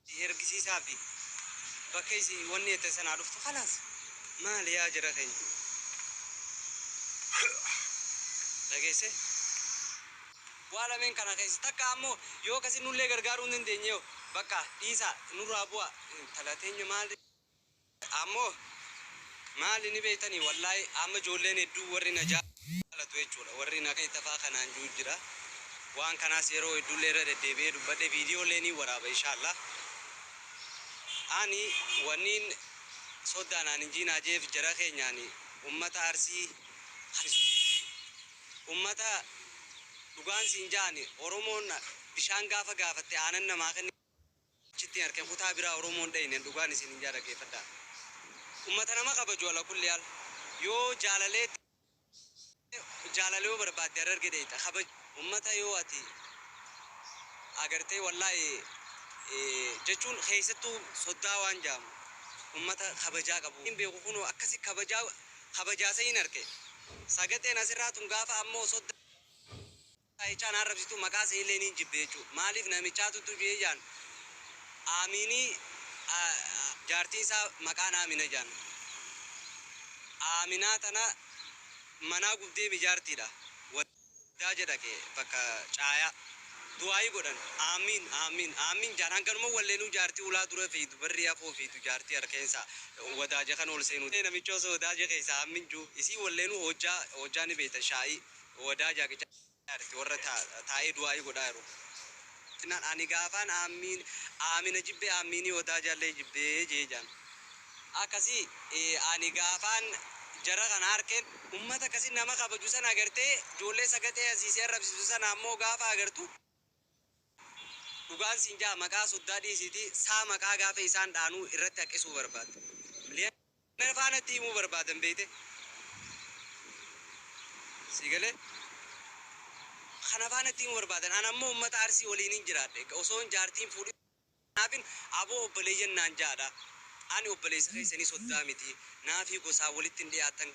Itti ergisiisaa fi bakka isiin wanni jette san haa dhuftu khalaas maali yaa jara keenya dhageesse waa lameen kana keessa takka ammoo yoo akkasi nullee gargaaruu hin dandeenye hoo bakka dhiisaa nurraa bu'aa intala teenya maal Ammo maali ni beektani wallaahi amma ijoolleen hedduu warri na jaalatu jechuudha warri na keessa faa kanaan ji'u jira waan kanaas yeroo hedduullee irra deddeebi'ee dubbadhe viidiyoollee niin waraaba inshaallaah ani wanniin soddaa naan hin jiinaa je'eef jara keenyaan ummata arsii kan ummata dhugaan siin ja'ani oromoon bishaan gaafa gaafatte aanan namaa kenni Achitti arke kutaa biraa oromoo hin dhayne dhugaan isinin jaa dhageefadha ummata nama kabaju ala kulli al yoo jaalalee tee jaalala yoo barbaadde hararge dhayxa kabaj ummata yoo ati agartee wallahi jechuun keessattu soddaa waan jaamu ummata kabajaa qabu hin beeku kunoo akkasi kabajaa kabajaa sayin arke sagaxeen asirraa tun gaafa ammoo sodda Saichaa na arrabsituu maqaa siillee niin jibbe jechuu maaliif namichaa tuttuu jee jaan Aamiinii jaartiin isaa maqaan Aamina jaan Aaminaa tana manaa gubdeemi jaartiidha waldaa je dhaqe bakka caayaa du'aayii godhan Aammiin Aammiin Aammiin jaan hanganuma walleenuu jaartii ulaa dura fiidu barrii afoo fiidu jaartii arkeensa wadaa je kan ol seenuu namichoo soodaa je keessa Aammin juu isii walleenuu hojjaa hojjaa ni beeytan shaa'ii wadaa jaaqichaa irratti warra taa'ee du'aa'ii godhaa jiru jennaan ani gaafaan aammiin aamina jibbee aammiinii wadaa jaallee jibbee jee jaan akkasii ani gaafaan jara kana harkeen ummata akkasii nama kabaju sana agartee joollee sagaxee asiisee arrabsiisu sana ammoo gaafa agartu Dhugaan siin ja'a maqaa soddaa dhiisiitii saa maqaa gaafa isaan dhaanuu irratti haqqisuu barbaadda. Miliyoonera faa natti himuu barbaadan beeyte? Sii galee? Kana faa natti himuu barbaadan an ammoo ummata Arsii waliinin jiraadhe osoon jaartii hin fuudhin naafin aboo obboleeyyan naan ja'adha. Ani obboleeysa keeysanii soddaa mitii. Naafii gosaan walitti hin dhiyaattan.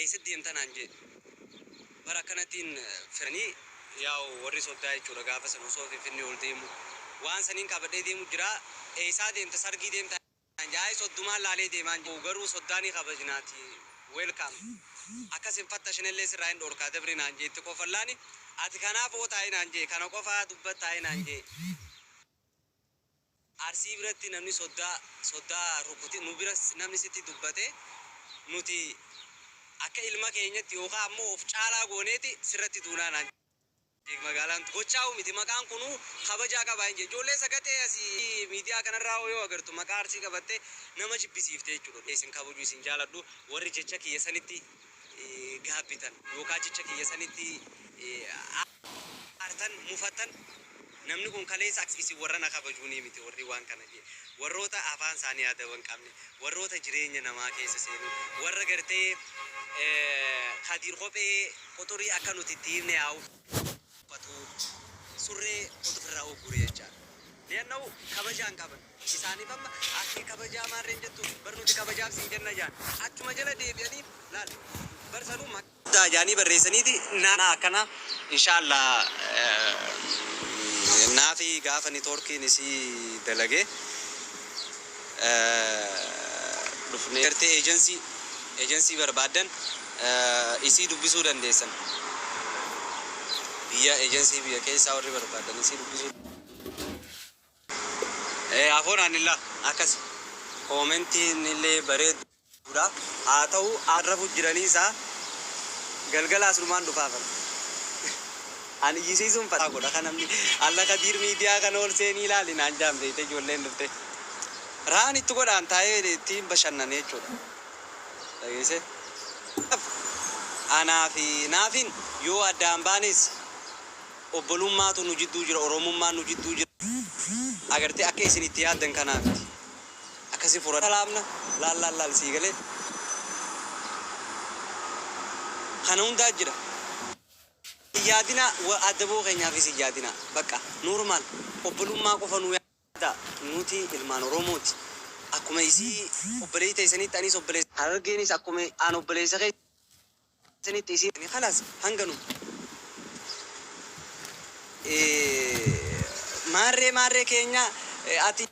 Eessa deemta naan jee. Bar akkanatiin fidanii yaa'u warri soddaa jechuudha gaafa sana osoo finfinnee ol deemu waan saniin qabadhee deemu jira eessaa deemta sargii deemta naan jee ayi soddumaan laalee deemaan jee garuu soddaa ni kabajnaati welcome akkas hin fattashinellee sirraa hin dhoorkaa dabri naan jee itti kofallaani ati kanaaf ootaayi naan jee kana qofaa dubbattaayi naan jee. Arsii biratti namni soddaa soddaa rukuti nu biras namni sitti dubbate nuti akka ilma keenyatti yookaa ammoo of caalaa gooneeti sirratti duunaa naan jedhe magaalaan gochaa'uu miti maqaan kunuu kabajaa qabaa hin jedhe ijoollee sagaxee asi miidiyaa kanarraa hoo yoo agartu maqaa arsii qabattee nama jibbisiifte jechuudha isin kabaju isin jaaladhu warri jecha kiyya sanitti gaabbitan yookaa jecha kiyya sanitti aartan, mufattan, namni kun kaleessa akka isin warra na kabajuunii miti warri waan kana jee. Warroota afaan saanii adaba hin qabne, warroota jireenya namaa keessa seenuu, warra gartee Kadiir kophee quxurii akka nuti itti hiifne haa uffatuu, surree quxurii irraa uggure jechaa. Li'annahu kabajaa hin qaban. isaaniif amma Atte kabajaa maarreen jettu bar nuti kabajaaf siin jenna jaan achuma jala deebi'anii laal bar sanuu maqaa guddaa jaanii barreessaniiti naanaa akkanaa inshaallaa naafi gaafa nitoorkiin isii dalage dhufnee gartee eejansii eejansii barbaaddan isii dubbisuu dandeessan biyya eejansii biyya keessaa warri barbaaddan isii dubbisuu. Ee afoo naannilla akkasi. Koomentiin illee bareedduudha. Haa ta'uu an rafu jiranii isaa galgala asnumaan dhufaa bar. An iyyisiisuun fataa godha ka namni alla kadiir miidiyaa kana ol seenii ilaali naan jaan beeyte ijoolleen dhufte. Raan itti godhaan taa'ee ittiin bashannane jechuudha. Dhageesse. Anaa fi naafin yoo addaan baanees. Obbolummaatu nu jidduu jira, Oromummaan nu jidduu jira. Agartee akka isin itti yaaddan kanaa miti. Akkasi furata laafna. Laal laal laal sii galee. Kana hundaa jira. Hin yaadinaa, wa, addaboo keenyaafis hin yaadinaa. Baqqa. Normal. Obbolummaa qofa nuu. dha. Nuti ilmaan Oromoo ti. Akkuma isii obboleeyyi teeysanitti aniis obboleeysa. Harargeenis akkuma an obboleeysa keeysanitti isiin. Ani khalaas hanganuma. Ee maarree maarree keenya ati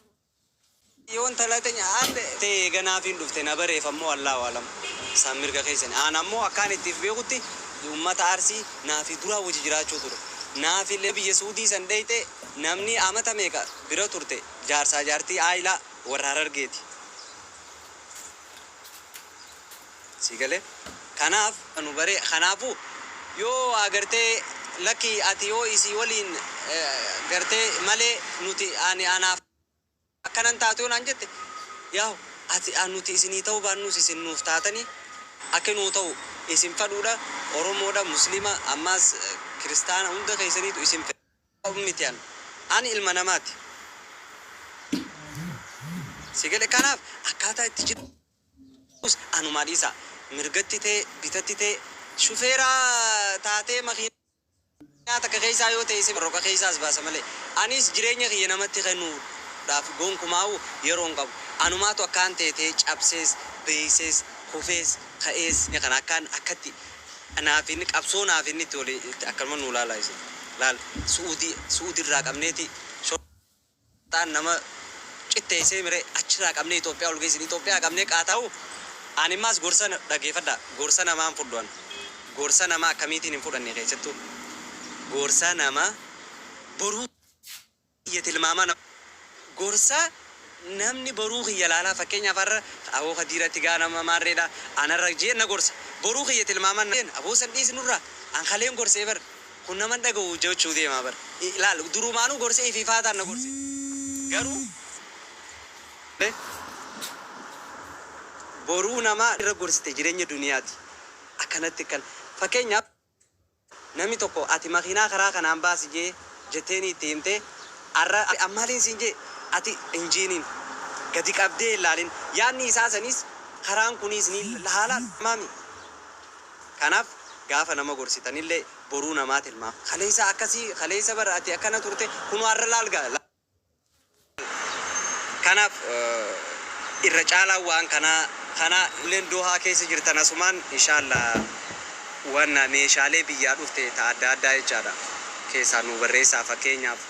yoo intala teenya an. tee eega naaf hin dhufte na bareef ammoo Allaahu A'lam san mirga keeysani. An ammoo akka ani itti if beekhutti ummata Arsii naa fi duraa woji jiraachuu ture. Naafille biyya Suudii san dheeyxee. Namnii amata meeqa bira turte jaarsaa jaartii aayilaa warra harargeeti. Sii galee? Kanaaf. nu baree kanaafu yoo waa gartee lakkii ati yoo isii waliin gartee malee nuti ani anaaf. Akka nan taatu yoo naan jette, Yahu, ati a nuti isinii ta'uu baannus isin nuuf taatani akka nuu ta'u isin fadhuudha, Oromoodha, Muslima, ammaas Kiristaana hunda keessaniitu isin fedha. Of miti an. Ani ilma namaati. Si gale? Kanaaf akkaataa itti jirus anumaa dhiisaa. Mirgatti ta'e, bitatti ta'e, shufeeraa taatee makiinaa. Addunyaa takka keessaa yoo ta'e isin roga keessaa as baasa malee. Anis jireenya kiyya namatti kennuudhaaf gonkumaa'uu yeroo hin qabu. Anumaatu akkaan teetee cabsees, beeysees, kufees, ka'ees jireenya kana akkaan akkatti naaf hin qabsoo naaf hin itti oli itti akkanuma nuu laalaa isin. Laal Su'uudii Su'uudiirraa qabneeti. taan nama qitteessee mire achiraa qabnee Ethiopia ol geessin Ethiopia qabnee qaata'u ani maas gorsa dhageefadha gorsa namaa hin fudhu an gorsa namaa akkamiitiin hin fudhanne keessattu gorsa nama boruu kiyya tilmaamaa nama gorsa namni boruu kiyya laalaa fakkeenyaaf har'a aboo kadiiratti gaa nama maarreedha anarra jeen na gorsa boruu kiyya tilmaamaa na jeen aboo san dhiisi nurraa an kaleen gorsee bar Kun nama hin dhagahu hojjachuu deema bar laal durumaanuu gorsa ifiifaataan na gorse garuu me boruu namaa irra gorsite jirenya duniyaati akkanatti kan fakkeenyaaf namni tokko ati makiinaa karaa kanaan baasi jee jetteenii itti himte arra an maaliin siin jee ati injiiniin gadi qabdee hin laalin yaadni isaa saniis karaan kuniis ni laalaa maami Kanaaf gaafa nama gorsitanillee boruu namaa tilmaama. Kaleessa akkasi, kaleessa bar ati akkana turte, kunoo har'a laal gaa. Kanaaf irra caalaan waan kanaa kana. Ijoolleen Dohaa keessa jirtan asumaan inshaallaa waan meeshaalee biyyaa dhufte ta adda addaa jechaadha keessaa nuu barreessaa. Fakkeenyaaf.